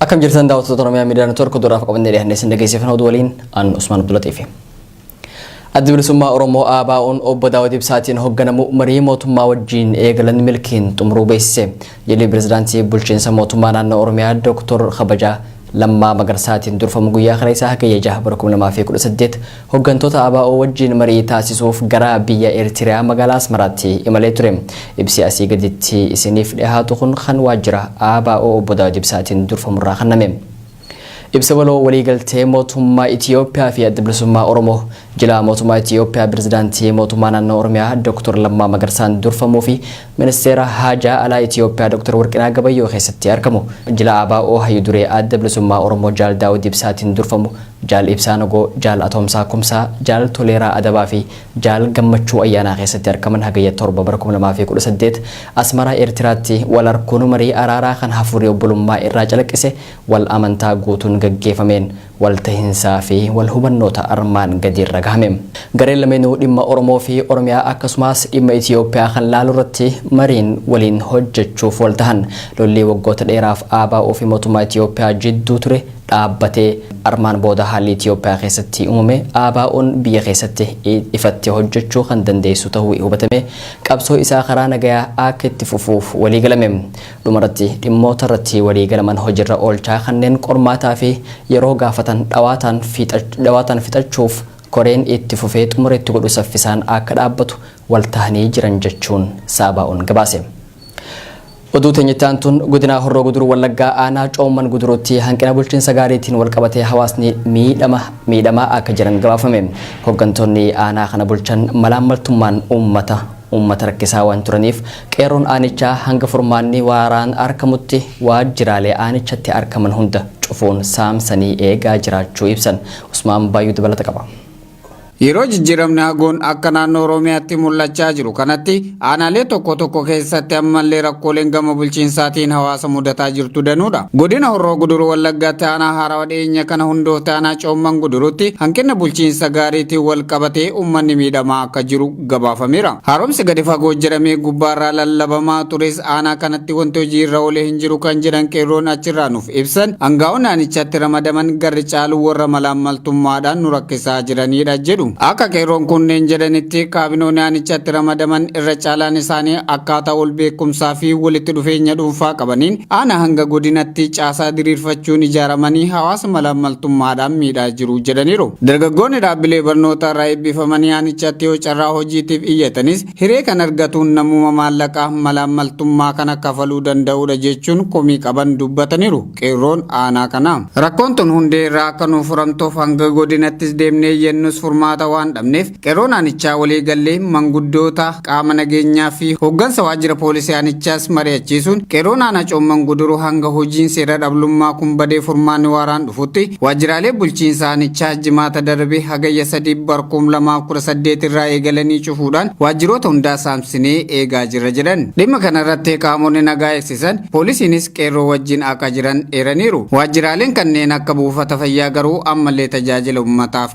Akkam jirtan daawwattoota Oromiyaa Miidiyaa Neetwoork duraaf qabannee dhiyaannee isin dhageessifna oduu waliin aan Usmaan Abdulatiifi. Addi bilisummaa Oromoo ABO'n obbo Daawud Ibsaatiin hoogganamu marii mootummaa wajjin eegalan milkiin xumuruu beeksise. Jilli pirezidaantii bulchiinsa mootummaa naannoo Oromiyaa Dooktor Kabajaa Lammaa Magarsaatiin durfamu guyyaa kaleessaa Hagayya 6 bara 2018 Hoggantoota ABO wajjin marii taasisuuf gara biyya Eritrea magaalaa Asmaraatti imalee ture. Ibsi asii gaditti isiniif dhihaatu kun kan waajjira ABO Obbo Daawud Ibsaatiin durfamurraa kanname. Ibsa waloo waliigaltee mootummaa Itiyoophiyaa fi Adda Bilisummaa Oromoo jilaa mootummaa Itiyoophiyaa Pirezidaantii mootummaa naannoo Oromiyaa Dooktor Lammaa Magarsaan durfamuu fi Ministeera Haajaa Alaa Itiyoophiyaa Dr. Warqinaa Gabayyoo keessatti argamu. Jila ABO Hayyu Duree Adda Bilisummaa Oromoo Jaal Daawud Ibsaatiin durfamu Jaal Ibsaa Nagoo, Jaal Atoomsaa Kumsaa, Jaal Toleeraa Adabaa fi Jaal Gammachuu Ayyaanaa keessatti argaman Hagayya 7 bara 2018 Asmaraa Eertiraatti wal arkuun marii araaraa kan hafuurri obbolummaa irraa calaqqise wal amantaa guutuun gaggeefameen waltahinsaafi walhubannoota armaan gadii irra gahame. Gareen lameenuu dhimma Oromoofi Oromiyaa akkasumaas dhimma Itiyoophiyaa kan laalu irratti mariin waliin hojjechuuf waltahan. Lollii waggoota dheeraaf ABOfi mootummaa Itiyoophiyaa jidduu ture dhaabbatee armaan booda haalli Itiyoophiyaa keessatti uumame ABOn biyya keessatti ifatti hojjechuu kan dandeessisu tahuu hubatamee qabsoo isaa karaa nagayaa akka itti fufuuf waliigalame. Dhumarratti, dhimmoota irratti walii galaman hojirra oolchaa kanneen qormaataa fi yeroo gaafatan dhawaataan dhawaataan fixachuuf koreen itti fufee xumura itti godhu saffisaan akka dhaabbatu wal tahanii jiran jechuun Saabaa'oon gabaase. Oduu teenya itti aantuun godinaa Horroo Guduruu Wallaggaa aanaa Coomman Guduruutti hanqina bulchiinsa gaariitiin wal qabatee hawaasni miidhama miidhamaa akka jiran gabaafame. Hoggantoonni aanaa kana bulchan malaammaltummaan uummata uummata rakkisaa waan turaniif qeerroon aanichaa hanga furmaanni waaraan arkamutti waajjiraalee aanichatti arkaman hunda cufuun saamsanii eegaa jiraachuu ibsan. Usmaan Baayyuu dabalata qaba. Yeroo jijjiiramni hagoon akka naannoo Oromiyaatti mul'achaa jiru kanatti aanaalee tokko tokko keessatti ammallee rakkooleen gama bulchiinsaatiin hawaasa mudataa jirtu danuudha. Godina Horroo Guduruu Wallaggaatti aanaa haarawa dhiyeenya kana hundoofte aanaa Coomman Guduruutti hanqina bulchiinsa gaariitiin wal qabatee uummanni miidhamaa akka jiru gabaafameera. Haaromsi gadi fagoo jedhamee gubbaarraa lallabamaa tures aanaa kanatti wanti hojii irra oolee hin jiru kan jedhan qeerroon achirraa nuuf ibsan, angaa'onni aanichatti ramadaman garri caalu warra malaammaltummaadhaan nu rakkisaa jiraniidha jedhu. Akka qeerroon kunneen jedhanitti, kaabinooni aanichatti ramadaman irra caalaan isaanii akkaataa wal beekumsaa fi walitti dhufeenya dhuunfaa qabaniin aanaa hanga godinatti caasaa diriirfachuun ijaaramanii hawaasa malaammaltummaa malaammaltummaadhaan miidhaa jiru jedhaniiru. Dargaggoonni dhaabbilee barnootaa irraa eebbifamanii aanichatti yoo carraa hojiitiif iyyatanis hiree kan argatuun namuma maallaqa malaammaltummaa kana kafaluu danda'uudha jechuun komii qaban dubbataniiru qeerroon aanaa kanaa. Rakkoon tun hundee irraa akka nuuf furamtuuf hanga godinattis deemnee iyyannus furmaata waan dhabneef Qeerroon aanichaa waliigallee manguddoota, qaama nageenyaa fi hooggansa waajjira poolisii aanichaas mari'achiisuun qeerroon aanaa Coomman Guduruu hanga hojiin seera dhablummaa kun badee furmaanni waaraan dhufutti waajjiraalee bulchiinsa aanichaa Jimaata darbe Hagayya 3 bar 2018 irraa eegalanii cufuudhaan waajjiroota hundaa saamsinee eegaa jirra jedhan. Dhimma kana irratti qaamonni nagaa eegsisan poolisiinis qeerroo wajjin aqa jiran eeraniiru. Waajjiraaleen kanneen akka buufata fayyaa garuu ammallee tajaajila ummataaf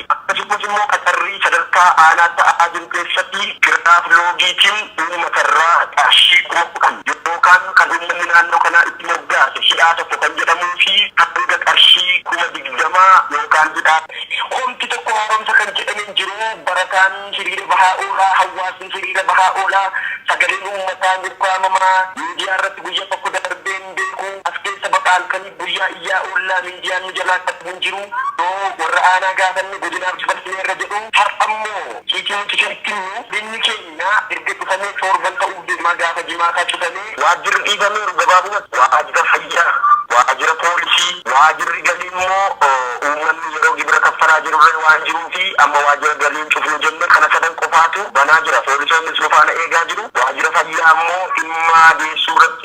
Akkasumas immoo qacarrii sadarkaa aanaa ta'aa jiru keessatti giraaf loogiitiin uummatarraa qarshii 10,000 yookaan kan uummanni naannoo kanaa itti moggaase hidhaa tokko kan jedhamuu fi hanga qarshii 20,000 yookaan hidhaa. Homti tokko haaromsa kan jedhame hin jiru. Barataan hiriira bahaa oola, hawaasni hiriira bahaa oola, sagaleen uummataa hin ukkaamamaa, miidiyaarratti guyya tokko darbee hin beeku, as keessa baqa halkanii. Guyyaa iyyaa oollaa miidiyaan nu jalaa qabu hin jiru. Yoo warra aanaa gaafanne godinaaf dabarsineerra jedhu. Har'ammoo ciitii nuti kenitnu godinni keenya erga cufamee toorban ta'uuf deema gaafa Jimaataa cufamee waajjirri dhiifameeru gabaabumatti waajjira fayyaa, waajjira poolisii, waajjirri galii immoo uummanni yeroo gibira kaffalaa jirurree waan jiruufi amma waajjira galii hin cufnu jenne kana sadan qofaatu banaa jira. Poolisoonnis nu faana eegaa jiru. Waajjira fayyaa immoo dhimma deessuurratti.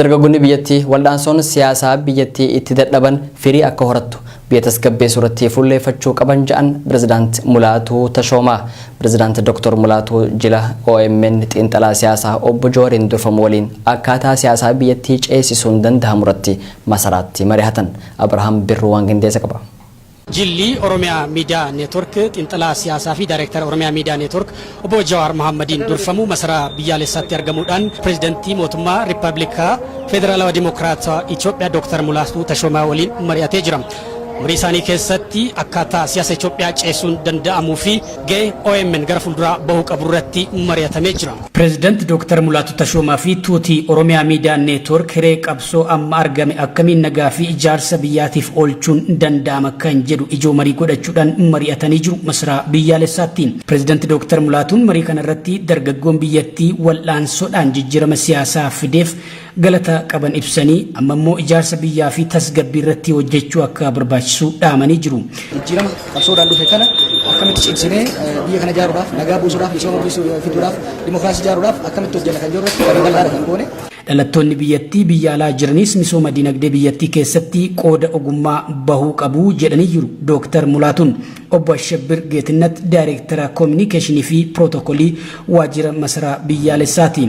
Dargaggonni biyyattii wal'aansoon siyaasaa biyyattii itti dadhaban firii akka horattu biyya tasgabbeessuu irratti fuulleeffachuu qaban ja'an Pirezidaant Mulaatuu Tashoomaa. Pirezidaant Doktor Mulaatuu jila omn xiinxalaa siyaasaa Obbo Jawariin durfamu waliin akkaataa siyaasaa biyyattii ceesisuun dandahamu irratti Masaraatti marihatan. Abrahaam Birruu waan qindeesse qaba. Jilli Oromia Media Network Xiinxalaa Siyaasaa fi Daayreektara Oromia Media Network Obbo Jawaar Mahaammadiin durfamu Masaraa Biyyaaleessaatti argamuudhaan Pireezidantii Mootummaa Rippabilika Federaalawa Dimokiraatawa Itiyoophiyaa Dooktar Mulaatuu Tashoomaa waliin mari'atee jira. Marii isaanii keessatti akkaataa siyaasa Itiyoophiyaa ceesisuun danda'amuu fi Gahee omn gara fulduraa bahuu qabu irratti mari'atamee jira. Pireezidant Dooktar Mulaatu Tashoomaa fi Tuuti Oromiyaa Miidiyaa Neetwoork hiree qabsoo amma argame akkamiin nagaa fi ijaarsa biyyaatiif oolchuun danda'ama kan jedhu ijoo marii godhachuudhaan mari'atanii jiru masaraa biyyaalessaatti. Pireezidant Dooktar Mulaatuun marii kanarratti dargaggoon biyyattii wal'aansoodhaan jijjiirama siyaasaa fideef galata qaban ibsanii amma immoo ijaarsa biyyaa fi tasgabbii irratti hojjechuu akka barbaachisu dhaamanii jiru. Jijjiirama qabsoodhaan dhufe kana akkamitti cimsinee biyya kana ijaaruudhaaf nagaa buusuudhaaf misooma fiduudhaaf dimookiraasii ijaaruudhaaf akkamitti hojjenna kan jirru irratti bal'aadha kan goone. Dhalattoonni biyyattii biyya alaa jiranis misooma dinagdee biyyattii keessatti qooda ogummaa bahuu qabu jedhanii jiru Dooktar Mulaatuun. Obbo Ashabbir Geetinnat Daayireektara Koominikeeshinii fi Pirootokolii Waajjira Masaraa Biyyaalessaati.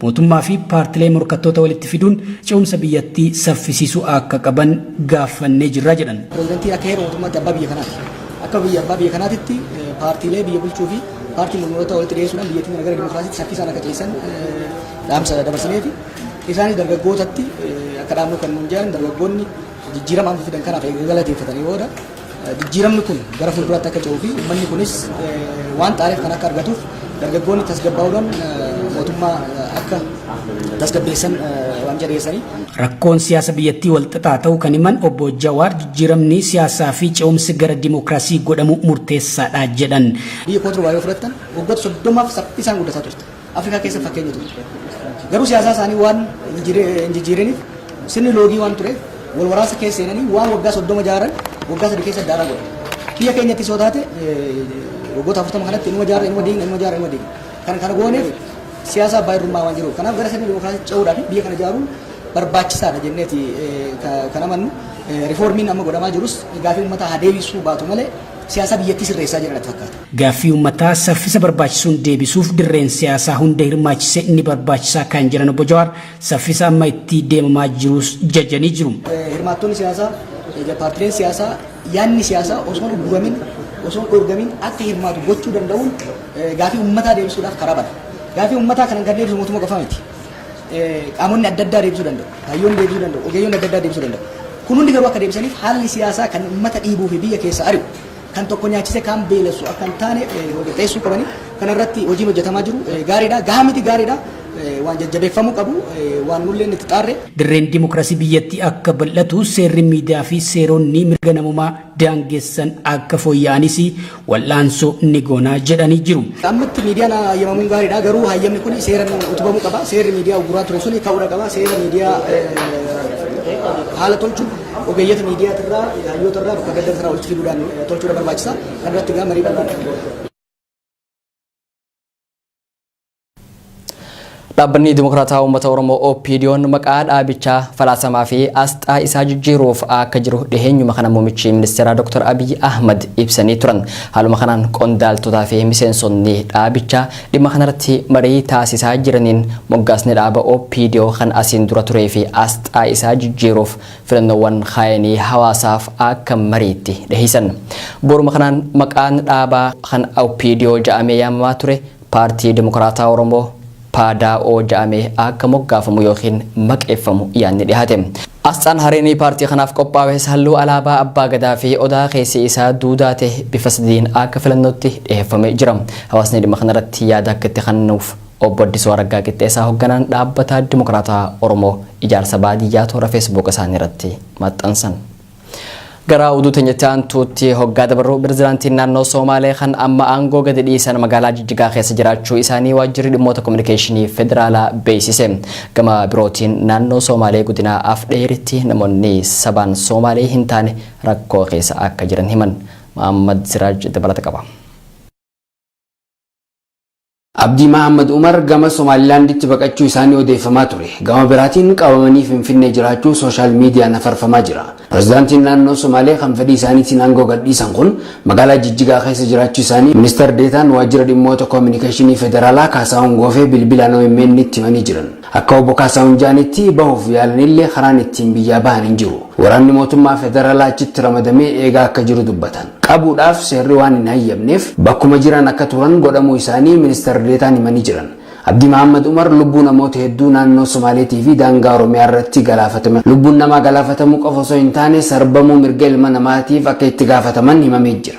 Mootummaa fi paartilee morkattoota walitti fiduun ce'umsa biyyattii saffisiisuu akka qaban gaaffannee jirra jedhan. Pirezidantiin akka heera mootummaatti abbaa biyya kanaati. Akka biyya abbaa biyya kanaatitti paartiilee biyya bulchuu fi paartii mormitoota walitti dhiyeessuudhaan biyyattiin gara dimokiraasiitti saffisaan akka ceessan dhaamsa dabarsineefi. Isaanis dargaggootatti akka dhaamnu kan nuun jedhan dargaggoonni jijjiirama amma fidan kanaaf eega galateeffatanii booda Jijjiiramni kun gara fuulduraatti akka ce'uu fi uummanni kunis waan xaareef kan akka argatuuf dargaggoonni tasgabbaa'uudhaan mootummaa akka tasgabbeessan waamicha dhiyeessanii. Rakkoon siyaasa biyyattii walxaxaa ta'uu kan himan obbo Jawaar jijjiiramni siyaasaa fi ce'umsi gara dimookiraasii godhamu murteessaadha jedhan. Biyya Kootruwaa yoo fudhattan waggoota soddomaaf saffisaan guddataa turte. Afrikaa keessa fakkeenya turte. Garuu siyaasaa isaanii waan hin jijjiiriniif sirni loogii waan tureef wal waraansa keessa seenanii waan waggaa soddoma jaaran waggaa sadii keessa daaraa godhan. Biyya keenyatti soo taate waggoota afurtama kanatti inuma jaara inuma diigna inuma jaara inuma diigna. Kan kana gooneef siyaasa abbaa irrummaa waan jiruuf kanaaf gara sirni dimokiraasii ce'uudhaaf biyya kana ijaaruun barbaachisaadha jenneeti kan amannu rifoormiin amma godhamaa jirus gaafii uummataa haa deebisuu baatu malee siyaasa biyyattii sirreessaa jiran natti fakkaata. Gaaffii uummataa saffisa barbaachisuun deebisuuf dirreen siyaasaa hunda hirmaachise ni barbaachisaa kan jedhan Obbo Jawaar, saffisa amma itti deemamaa jiruus jajanii jiru. Hirmaattonni siyaasaa, paartileen siyaasaa yaadni siyaasaa osoo hin ugguramin, osoo hin dhoorgamin akka hirmaatu gochuu danda'uun gaaffii uummataa deebisuudhaaf karaa bana. Gaaffii uummataa kana kan deebisu mootummaa qofa miti. Qaamonni adda addaa deebisuu danda'u. Hayyoonni deebisuu danda'u. Ogeeyyonni adda addaa deebisuu danda'u. Kun hundi garuu akka deebisaniif haalli siyaasaa kan uummata dhiibuu fi biyya keessa ari'u kan tokko nyaachise kaan beelessu akka hin taane qopheessuu qabani. Kana irratti hojiin hojjetamaa jiru gaariidha. Gahaa miti gaariidha. Waan jajjabeeffamuu qabu waan nulleen itti xaarre. Dirreen dimokiraasii biyyattii akka bal'atu seerri miidiyaa fi seeronni mirga namoomaa daangessan akka fooyya'anis wal'aansoo ni goonaa jedhanii jiru. Ammatti miidiyaan hayyamamuun gaariidha. Garuu hayyamni kun seeraan utubamuu qaba. Seerri miidiyaa uguraa ture sun ka'uudha qaba. Seera miidiyaa haala tolchuun Ogeeyyota miidiyaatirraa, hayyootarraa bakka adda addaa irraa walitti fiduudhaan tolchuudha barbaachisa. Kan irratti egaa marii bal'aan kan godhu. Dhaabbanni Dimokiraataa Uummata Oromoo OPDO'n maqaa dhaabichaa falaasamaa fi asxaa isaa jijjiiruuf akka jiru dhiheenyuma kana muummichi ministeeraa Dr. Abiy Ahmad ibsanii turan. Haaluma kanaan qondaaltotaa fi miseensonni dhaabichaa Dhimma kanarratti marii taasisaa jiraniin moggaasni dhaaba OPDO kan asiin dura turee fi asxaa isaa jijjiiruuf filannoowwan kaayanii hawaasaaf akka mariitti dhiheessan. Bu'uuruma kanaan maqaan dhaabaa kan OPDO ja'amee yaamamaa ture Paartii Dimokraataa Oromoo, PDAO, ja'amee akka moggaafamu ykn maqeeffamu yaadni dhihaate. Asxaan hareenii paartii kanaaf qophaawees halluu alaabaa Abbaa Gadaa fi Odaa keessi isaa duudaa ta'e bifa sadiin akka filannootti dhiheeffamee jira. Hawaasni dhimma kanarratti yaada akka itti kannuuf Obbo Addisuu Araggaa Qixxeessaa hogganaan Dhaabbata Dimokiraataa Oromoo ijaarsa baadiyyaa toora Facebook isaanii irratti maxxansan. Gara oduu teenyatti aantuutti hoggaa dabarru pirezidaantiin naannoo Soomaalee kan amma aangoo gadi dhiisan magaalaa Jijjigaa keessa jiraachuu isaanii waajjirri dhimmoota kominikeeshinii federaalaa beeksise. Gama birootiin naannoo Soomaalee godina Afdheeritti namoonni sabaan Soomaalee hin taane rakkoo keessa akka jiran himan. Mahammad Siraaj dabalata qaba. Abdii Mahaammad Umar gama Somaalilaanditti baqachuu isaanii odeeffamaa ture. Gama biraatiin qabamanii Finfinnee jiraachuu sooshaal miidiyaan afarfamaa jira. Pirezidaantiin naannoo Somaalee kan fedhii isaaniitiin aangoo gadhiisan kun magaalaa Jijjigaa keessa jiraachuu isaanii Ministar Deetaan Waajjira Dhimmoota Koominikeeshinii Federaalaa Kaasaahun Goofee bilbilaan OMN itti himanii jiran. Akka Obbo Kaasaahun ja'anitti bahuuf yaalanillee karaan ittiin biyyaa bahan hin jiru. Waraanni mootummaa federalaa achitti ramadamee eegaa akka jiru dubbatan. Qabuudhaaf seerri waan hin hayyamneef bakkuma jiran akka turan godhamuu isaanii Ministar Deetaan himanii jiran. Abdii Mahaammad Umar lubbuu namoota hedduu naannoo Somaaleetii fi daangaa Oromiyaa irratti galaafatame lubbuun namaa galaafatamuu qofa osoo hin taane sarbamuu mirga ilma namaatiif akka itti gaafataman himamee jira.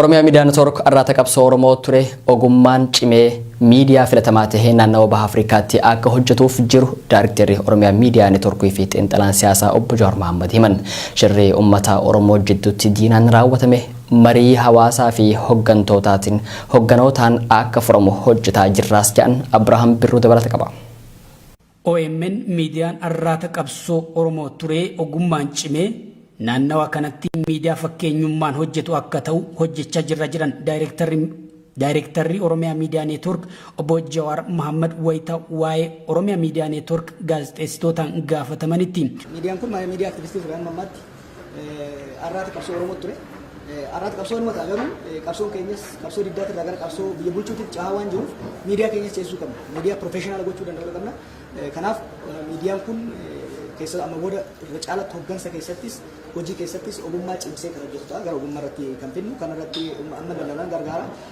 Oromiyaa Miidiyaa Network arraata qabsoo Oromoo ture ogummaan cimee miidiyaa filatamaa tahee naannawa baha Afrikaatti akka hojjetuuf jiru Daarikteerri Oromiyaa Miidiyaa Network fi xiinxalaan siyaasaa obbo Jawaar Mahaammad himan. Shirri uummata Oromoo jidduutti diinaan raawwatame marii hawaasaa fi hoggantootaatiin hogganootaan akka furamu hojjetaa jirraas jedhan Abirahaam Birruu dabalata qaba. Omn miidiyaan arraata qabsoo Oromoo turee ogummaan cimee naannawa kanatti miidiyaa fakkeenyummaan hojjetu akka ta'u hojjechaa jirra jedhan Daayreektarri Daayreektarri Oromiyaa Miidiyaa Neetwoork obbo Jawaar Mahaammad wayita waa'ee Oromiyaa Miidiyaa Neetwoork gaazexeessitootaan gaafatamanitti. Miidiyaan kun miidiyaa aktivistii ture amma ammaatti Arraata qabsoo Oromoo ture. Arraata qabsoo Oromoo ta'a garuu qabsoon keenyas qabsoo diddaa irraa gara qabsoo biyya bulchuutiif cehaa waan jiruuf miidiyaa keenyas ceesisuu qabna. Miidiyaa piroofeeshinaala gochuu danda'uu qabna. Kanaaf miidiyaan kun keessaa amma booda irra caalatti hoggansa keessattis hojii keessattis ogummaa cimsee kan hojjetu ta'a. Gara ogummaa irratti kan fidnu kan irratti amma lallalaan gargaara.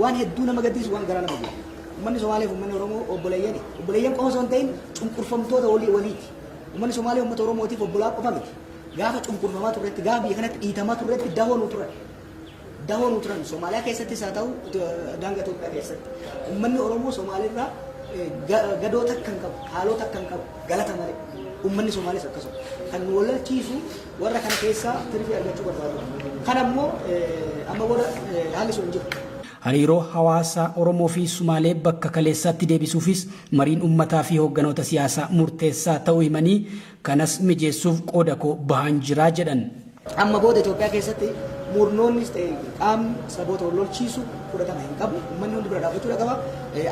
Waan hedduu nama gaddisiisu waan garaa nama gubu. Ummanni Somaalee fi ummanni Oromoo obboleeyyani. Obboleeyyan qofa osoo hin ta'in cunqurfamtoota walii waliiti. Ummanni Somaalee ummata Oromootiif obbolaa qofa miti. Gaafa cunqurfamaa turretti, gaafa biyya kanatti dhiitamaa turretti dahoo nuu turan. Dahoo nuu turan. Somaaliyaa keessattis haa ta'u daangaa Itoophiyaa keessatti. Ummanni Oromoo Somaaleerraa gadoo takka hin qabu, haaloo takka hin qabu, galata malee. Ummanni Somaalees akkasuma. Kan nu wallalchiisu Warra kana keessaa tirfii argachuu barbaadu. Kana immoo amma booda haalli sun hin jiru. Hariiroo hawaasaa Oromoo fi Sumaalee bakka kaleessaatti deebisuufis mariin ummataa fi hoogganoota siyaasaa murteessaa ta'uu himanii, kanas mijeessuuf qooda koo bahaan jira jedhan. Amma booda Itoophiyaa keessatti murnoonnis ta'e qaamni saboota wal lolchiisu fudhatama hin qabu. Ummanni hundi bira dhaabbachuudha qaba.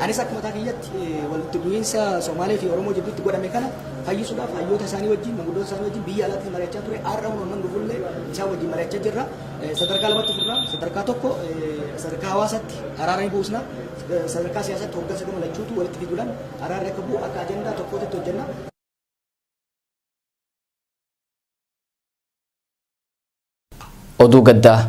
Anis akka mataa kiyyatti walitti bu'iinsa Somaalee fi Oromoo jidduutti godhame kana fayyisuudhaaf hayyoota isaanii wajjin, manguddoota isaanii wajjin biyya alaattis mari'achaa ture. Har'a kun amman dhufullee isaan wajjin mari'achaa jirra. Sadarkaa lamatti fudhna. Sadarkaa tokko sadarkaa hawaasaatti araara ni buusna. Sadarkaa siyaasaatti hooggansa gama lachuutu walitti fiduudhaan araarri akka bu'u akka ajandaa tokkootitti hojjenna. Oduu gaddaa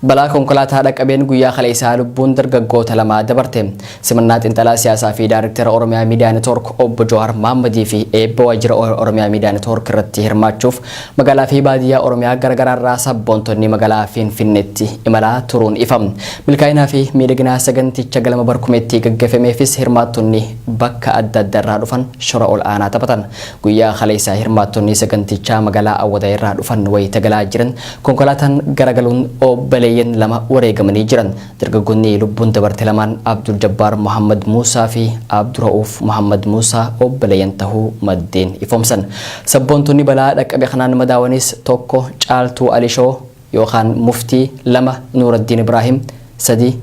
Balaa konkolaataa dhaqabeen guyyaa kaleessaa lubbuun dargaggoota lamaa dabarte. Simannaa xinxalaa siyaasaa fi Daariktera Oromiyaa Miidiyaa Network Obbo Jawaar Maammadii fi eebba waajjira Oromiyaa Miidiyaa Network irratti hirmaachuuf magaalaa fi baadiyyaa Oromiyaa garaagaraa irraa sabboontonni magaalaa Finfinneetti imalaa turuun ifa. Milkaa'inaa fi miidhaginaa saganticha galma barkumeetti gaggeeffameefis hirmaattonni bakka adda addaa irraa dhufan shora ol aanaa taphatan. Guyyaa kaleessaa hirmaattonni sagantichaa magaalaa Awwadaay irraa dhufan wayita galaa jiran konkolaataan garagaluun obbaleeyyan lama wareegamanii jiran. Dargaggoonni lubbuun dabarte lamaan Abdul Jabbaar Muhammad Muusaa fi Abdura'uuf Muhammad Muusaa obbaleeyyan tahuu maddeen ifoomsan. Sabboontonni balaa dhaqqabe kanaan madaawanis tokko Caaltuu Alishoo yookaan Muftii, lama Nuuraddiin Ibraahim, sadi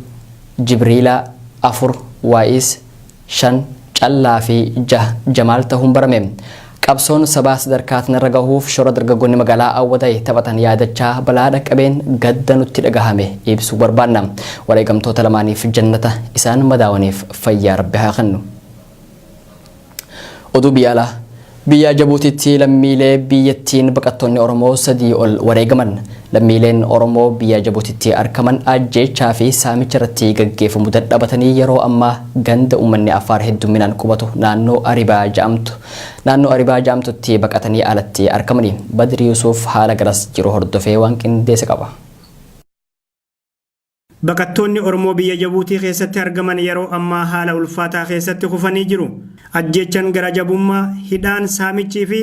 Jibriilaa, afur Waa'iis, 5, Callaa fi 6, Jamaal tahuun barame. Qabsoon sabaa sadarkaa tanarra gahuuf shoora dargaggoonni magaalaa Awwadaay taphatan yaadachaa balaa dhaqqabeen gadda nutti dhagahame ibsuu barbaanna. Wareegamtoota lamaaniif jannata, isaan madaawaniif fayyaa Rabbi haa kennu. Oduu biyya alaa. Biyya Jabuutiitti lammiilee biyyattiin baqattoonni Oromoo sadii ol wareegaman. Lammiileen Oromoo biyya Jabuutiitti arkaman ajjeechaa fi saamicha irratti gaggeefamu dadhabatanii yeroo ammaa ganda uummanni Affaar heddumminaan qubatu naannoo Aribaa ja'amtu naannoo Aribaa ja'amtutti baqatanii alatti arkamani. Badri Yusuuf haala garas jiru hordofee waan qindeese qaba. Baqattoonni Oromoo biyya Jabuutii keessatti argaman yeroo ammaa haala ulfaataa keessatti kufanii jiru. Ajjeechan gara jabummaa, hidhaan, saamichii fi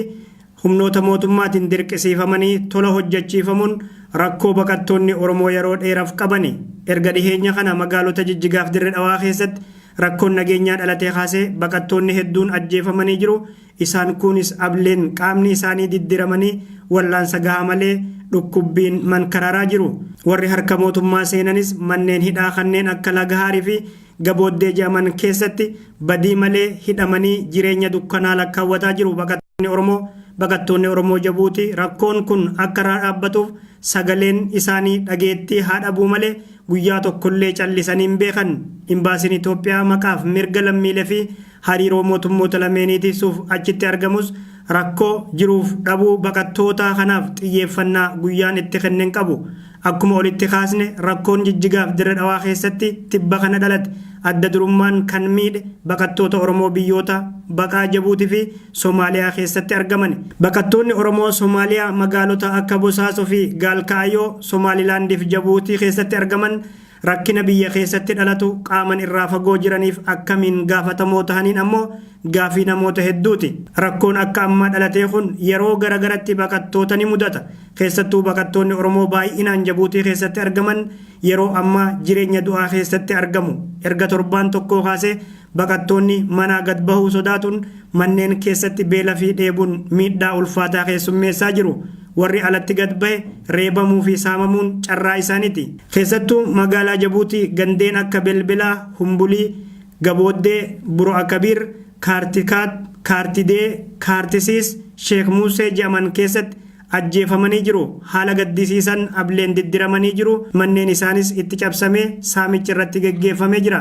humnoota mootummaatiin dirqisiifamanii tola hojjachiifamuun rakkoo baqattoonni Oromoo yeroo dheeraf qabani. Erga dhiheenya kana magaalota Jijjigaaf Dirre Dhawaa keessatti rakkoon nageenyaa dhalatee kaasee baqattoonni hedduun ajjeefamanii jiru, Isaan kuunis ableen qaamni isaanii diddiramanii wallaansa gahaa malee dhukkubbiin mankararaa jiru. Warri harka mootummaa seenanis manneen hidhaa kanneen akka Lagahaarii fi Gabooddee jedhaman keessatti badii malee hidhamanii jireenya dukkanaa lakkaawwataa jiru baqattoonni Oromoo. Baqattoonni Oromoo Jabuutii rakkoon kun akka irraa dhaabbatuuf sagaleen isaanii dhageettii haa dhabuu malee guyyaa tokkollee callisanii hin beekan. Imbaasiin Itoophiyaa maqaaf mirga lammiilee fi hariiroo mootummoota lameenii tiksuuf achitti argamus rakkoo jiruuf dhabuu baqattootaa kanaaf xiyyeeffannaa guyyaan itti kenne hin qabu. Akkuma olitti kaasne rakkoon Jijjigaaf Dirre Dhawaa keessatti tibba kana dhalate adda durummaan kan miidhe baqattoota Oromoo biyyoota baqaa Jabuuti fi Somaaliyaa keessatti argamani. Baqattoonni Oromoo Somaaliyaa magaalota akka Bosaaso fi Gaalkaayoo, Somaalilaandiif Jabuutii keessatti argaman Rakkina biyya keessatti dhalatu qaaman irraa fagoo jiraniif akkamiin gaafatamoo tahaniin ammoo gaafii namoota hedduuti. Rakkoon akka ammaa dhalatee kun yeroo gara garatti baqattoota ni mudata. Keessattuu baqattoonni Oromoo baay'inaan Jabuutii keessatti argaman yeroo ammaa jireenya du'aa keessatti argamu. Erga torbaan tokkoo kaasee baqattoonni manaa gad bahuu sodaatuun manneen keessatti beela fi dheebuun miidhaa ulfaataa keessummeessaa jiru. Warri alatti gad bahe reebamuu fi saamamuun carraa isaaniti. Keessattuu magaalaa Jabuutii gandeen akka Belbelaa, Humbulii, Gabooddee, Buro'akabiir, Kaartikaat, Kaartidee, Kaartisiis, Sheek Muusee je'aman keessatti ajjeefamanii jiru. Haala gaddisiisan ableen diddiramanii jiru, manneen isaanis itti cabsamee saamichi irratti geggeeffamee jira.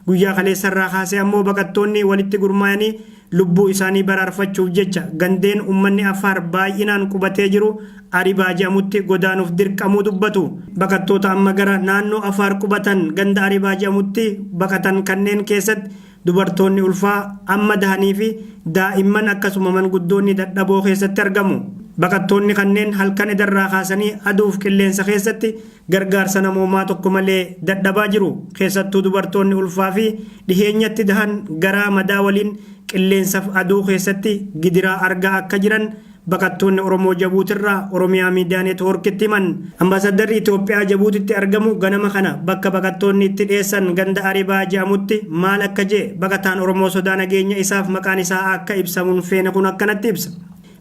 Guyyaa kaleessarraa kaasee ammoo baqattoonni walitti gurmaayanii lubbuu isaanii baraarfachuuf jecha gandeen ummanni Affaar baay'inaan qubatee jiru Aribaa jedhamutti godaanuuf dirqamuu dubbatu. Baqattoota amma gara naannoo Afaar qubatan ganda Aribaa jedhamutti baqatan kanneen keessatti dubartoonni ulfaa, amma dahaniifi daa'imman akkasuma manguddoonni dadhaboo keessatti argamu. Baqattoonni kanneen halkan edarraa kaasanii aduuf qilleensa keessatti gargaarsa namoomaa tokko malee dadhabaa jiru. Keessattuu dubartoonni ulfaa fi dhiheenyatti dahan garaa madaa waliin qilleensaf aduu keessatti gidiraa argaa akka jiran baqattoonni Oromoo Jabuutirraa Oromiyaa Miidiyaa Neetwoorkitti himan. Ambaasaddarri Itoophiyaa Jabuutitti argamu ganama kana bakka baqattoonni itti dheessan ganda Aribaa jedhamutti maal akka jee baqataan Oromoo sodaa nageenya isaaf maqaan isaa akka ibsamu hin feene kun akkanatti ibsa.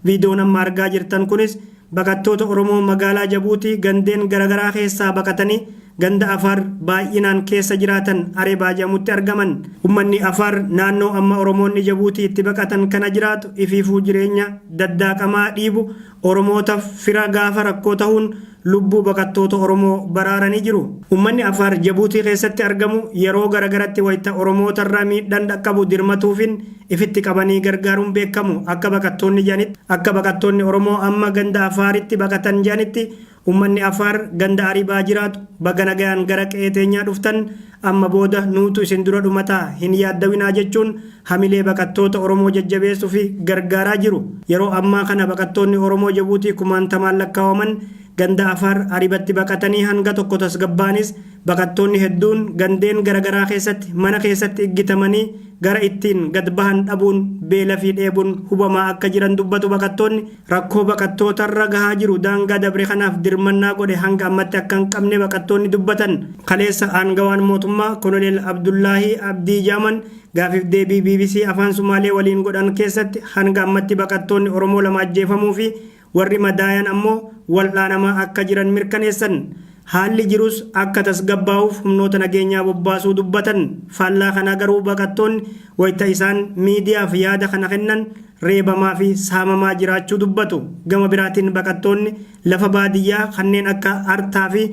Viidiyoon amma argaa jirtan kunis Baqattoota Oromoo magaalaa Jabuutii gandeen garagaraa keessaa baqatanii ganda Afaar baay'inaan keessa jiraatan Arebaa jedhamutti argaman. Ummanni Afaar naannoo amma Oromoonni Jabuutii itti baqatan kana jiraatu ifiifuu jireenya daddaaqamaa dhiibu Oromootaf fira gaafa rakkoo tahuun lubbuu baqattoota Oromoo baraaranii jiru. Ummanni Afaar Jabuutii keessatti argamu yeroo garagaratti wayta Oromootarra miidhan dhaqqabu dirmatuufin ifitti qabanii gargaaruun beekamu. Akka baqattoonni jedhanitti, akka baqattoonni Oromoo amma ganda Afaaritti baqatan jedhanitti, ummanni Afaar ganda Aribaa jiraatu, baga nagayaan gara qe'ee teenyaa dhuftan, amma booda nuutu isin dura dhumata, hin yaaddawinaa jechuun hamilee baqattoota Oromoo jajjabeessu fi gargaaraa jiru. Yeroo ammaa kana baqattoonni Oromoo Jabuutii kumaantamaan lakkaawaman ganda Afaar Aribatti baqatanii hanga tokko tasgabbaa'anis, Baqattoonni hedduun gandeen garagaraa keessatti mana keessatti iggitamanii gara ittiin gad bahan dhabuun beela fi dheebun hubamaa akka jiran dubbatu baqattoonni. Rakkoo baqattootarra gahaa jiru daangaa dabre kanaaf dirmannaa godhe hanga ammatti akka hin qabne baqattoonni dubbatan. Kaleessa aangawaan mootummaa Koloneel Abdullaahii Abdii Jaaman gaafiif deebii bbc Afaan Sumaalee waliin godhan keessatti hanga ammatti baqattoonni Oromoo lama ajjeefamuu fi Warri madaayan ammoo wal'aanamaa akka jiran mirkaneessan. Haalli jirus akka tasgabbaa'uuf humnoota nageenyaa bobbaasuu dubbatan. Faallaa kanaa garuu baqattoonni wayita isaan miidiyaaf yaada kana kennan reebamaa fi saamamaa jiraachuu dubbatu. Gama biraatiin baqattoonni lafa baadiyyaa kanneen akka Artaa fi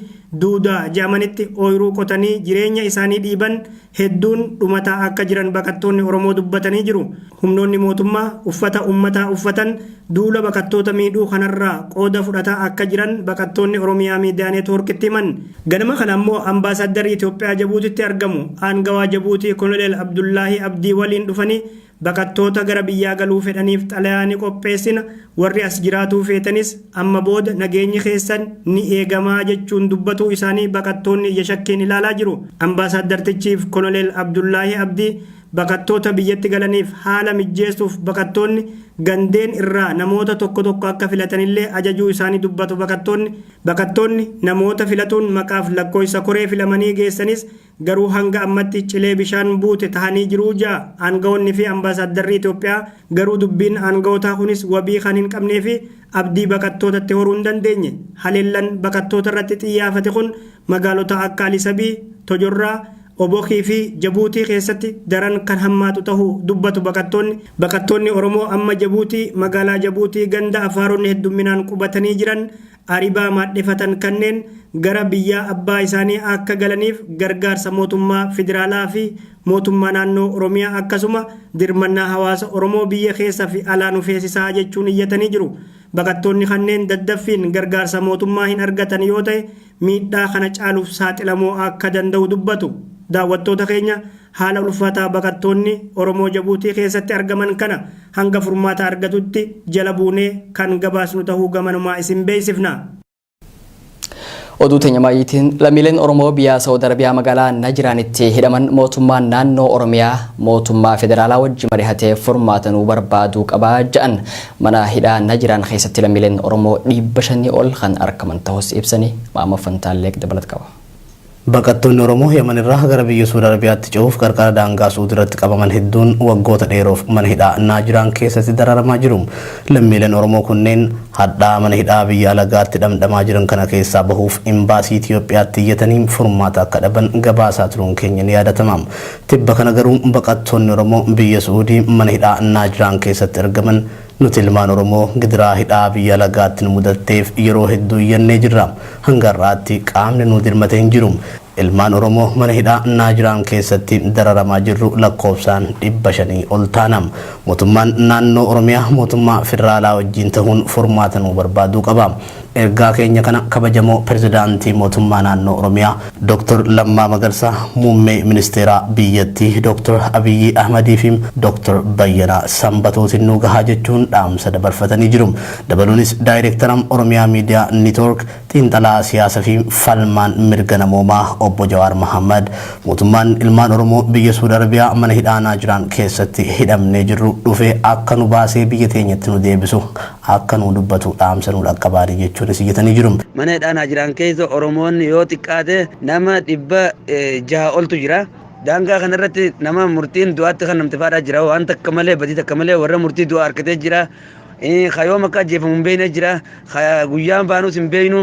Duudaa jedhamanitti ooyruu qotanii jireenya isaanii dhiiban hedduun dhumataa akka jiran baqattoonni Oromoo dubbatanii jiru. Humnoonni mootummaa uffata ummataa uffatan duula baqattoota miidhuu kanarraa qooda fudhataa akka jiran baqattoonni Oromiyaa Miidiyaa Neetwoorkitti himan. Ganama kana ammoo Ambaasaaddarri Itoophiyaa Jabuutitti argamu aangawaa Jabuutii Koloneel Abdullaahii Abdii waliin dhufanii Baqattoota gara biyyaa galuu fedhaniif xalayaa ni qopheessina, warri as jiraatuu feetanis amma booda nageenyi keessan ni eegama jechuun dubbatuu isaanii baqattoonni ija shakkiin ilaalaa jiru. Ambaasaaddartichiif Koloneel Abdullaahi Abdii baqattoota biyyatti galaniif haala mijjeessuuf baqattoonni gandeen irraa namoota tokko tokko akka filatanillee ajajuu isaanii dubbatu baqattoonni. Baqattoonni namoota filatuun maqaaf lakkooysa koree filamanii geessanis Garuu hanga ammatti cilee bishaan buute tahanii jiru ja, aangawoonni fi ambaasaaddarri Itoophiyaa. Garuu dubbiin aangawootaa kunis wabii kan hin qabnee fi abdii baqattootatti horuu hin dandeenye. Haleellan baqattoota irratti xiyyaafate kun magaalota akka Alisabii, Tojorraa, Obokii fi Jabuutii keessatti daran kan hammaatu tahu dubbatu baqattoonni. Baqattoonni Oromoo amma Jabuutii, magaalaa Jabuutii ganda Afaaronni heddumminaan qubatanii jiran Aribaa maadhefatan kanneen gara biyyaa abbaa isaanii akka galaniif gargaarsa mootummaa Federaalaa fi mootummaa naannoo Oromiyaa akkasuma dirmannaa hawaasa Oromoo biyya keessa fi alaa nu feesisaa jechuun iyyatanii jiru. Baqattoonni kanneen daddaffiin gargaarsa mootummaa hin argatan yoo ta'e miidhaa kana caaluf saaxilamoo akka danda'u dubbatu. Daawwattoota keenya haala ulfaataa baqattoonni Oromoo Jabuutii keessatti argaman kana hanga furmaata argatutti jala buunee kan gabaasnu tahuu gamanumaa isin beeksifna. Oduu teenya maayiitiin lammiileen Oromoo biyyaa Saawud Arabiyaa magaalaa Najiraanitti hidhaman mootummaan naannoo Oromiyaa mootummaa federaalaa wajji marihatee furmaata nuu barbaaduu qabaa ja'an mana hidhaa Najiraan keessatti lammiileen Oromoo dhiibba shanii ol kan argaman tahus ibsanii Maammoo Fantaalleeq dabalat qaba. Baqattoonni Oromoo Yaman irraa gara biyya Suud Arabiyaatti ce'uuf qarqara daangaa Suud irratti qabaman hedduun waggoota dheeroof mana hidhaa Naajiraan keessatti dararamaa jiru. Lammiileen Oromoo kunneen hadhaa mana hidhaa biyya alagaatti dhamdhamaa jiran kana keessaa bahuuf Imbaasii Itiyoophiyaatti iyyatanii furmaata akka dhaban gabaasaa turuun keenya ni yaadatama. Tibba kana garuu baqattoonni Oromoo biyya Su'uudii mana hidhaa Naajiraan keessatti argaman Nuti ilmaan Oromoo gidiraa hidhaa biyya alagaatti nu mudatteef yeroo hedduu iyyannee jirra. Hanga har'aatti qaamni nuu dirmate hin jiru. Ilmaan Oromoo mana hidhaa Naajiraan keessatti dararamaa jirru lakkoofsaan 500 ol taana. Mootummaan naannoo Oromiyaa mootummaa federaalaa wajjiin tahuun furmaata nuu barbaaduu qaba. Ergaa keenya kana kabajamoo Pirezidaantii Mootummaa Naannoo Oromiyaa Dr. Lammaa Magarsaa, Muummee Ministeeraa biyyattii Dr. Abiyyii Ahmadii fi Dr. Bayyanaa Sanbatootiin nuu gahaa jechuun dhaamsa dabarfatanii jiru. Dabaluunis Daayireektara Oromiyaa Miidiyaa Nitoork, Xiinxalaa Siyaasa fi Falmaan Mirga Namoomaa Obbo Jawaar Mahaammad mootummaan ilmaan Oromoo biyya Suud Arabiyaa mana hidhaa Naajiraan keessatti hidhamnee jirru dhufee akka nu baasee biyya teenyatti nu deebisu akka nuu dubbatu dhaamsa nuu dhaqqabaani jechuunis iyyatanii jiru. Mana hidhaa Naajiraan keessa Oromoonni yoo xiqqaate nama 600 oltu jira. Daangaa kana irratti nama murtiin du'aatti kennamte faadhaa jira. Waan takka malee badii takka malee warra murtii du'aa harkatee jira. Ka yoom akka ajjeefamu hin beekne jira. Ka guyyaan baanus hin beeknu.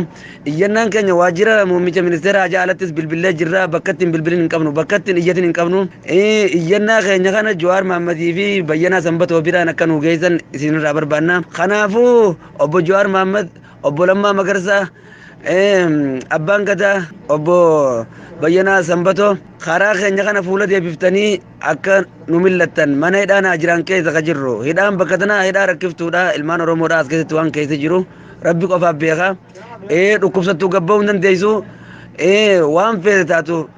Iyyannaan keenya waajjira muummicha ministeeraa ajaa alattis bilbillee jirra. Bakka ittiin bilbilin hin qabnu. Bakka ittiin iyyatin hin qabnu. Eh, Iyyannaa keenya kana Jawaar Maammadii fi Bayyanaa Sanbatoo biraan akka nuu geessan isinirraa barbaanna. Kanaafuu obbo Jawaar Maammad, obbo Lammaa Magarsaa, eh, Abbaan Gadaa, obbo Bayyanaa Sanbatoo karaa keenya kana fuula deebiftanii akka nu millattan mana hidhaa naa jiraan keessa ka jirru. Hidhaan bakka tanaa hidhaa rakkiftuudha. Ilmaan Oromoodhaa as keessatti waan keessa jiru. Rabbi qofaaf beeka. Eh, dhukkubsattuu gabba'uu hin dandeessu. Eh, waan feete taatu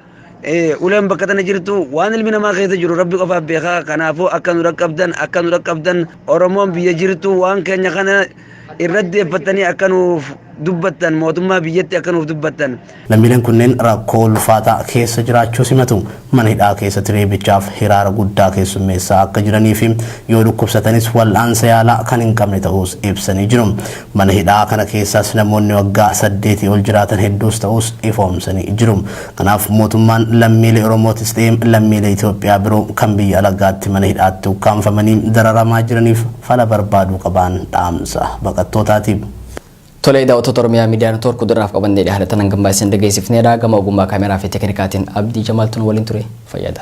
Uleen bakka tana jirtu waan ilmi namaa keessa jiru rabbi qofaaf beeka kanaafuu akka nu dhaqqabdan akka nu dhaqqabdan oromoon biyya jirtu waan keenya kana irratti deeffattanii akka nuuf dubbattan mootummaa biyyatti akka nuuf dubbattan. Lammiileen kunneen rakkoo ulfaataa keessa jiraachuu simatu. Mana hidhaa keessatti reebichaaf hiraara guddaa keessummeessaa akka jiranii fi yoo dhukkubsatanis wal'aansa yaalaa kan hin qabne ta'uus ibsanii jiru. Mana hidhaa kana keessaas namoonni waggaa saddeetii ol jiraatan hedduus ta'uus ifoomsanii jiru. Kanaaf mootummaan lammiilee Oromootis ta'ee lammiilee Itoophiyaa biroo kan biyya alagaatti mana hidhaatti ukkaamfamanii dararamaa jiraniif fala barbaaduu qabaan dhaamsa baqattootaati. Tolee daawwattoota Oromiyaa Miidiyaa Network oduudhaaf qabannee dhiyaanne tanan gambaa isin dhageessifneedha. Gama ogummaa kaameeraa fi teeknikaatiin Abdii Jamaaltuun waliin ture fayyada.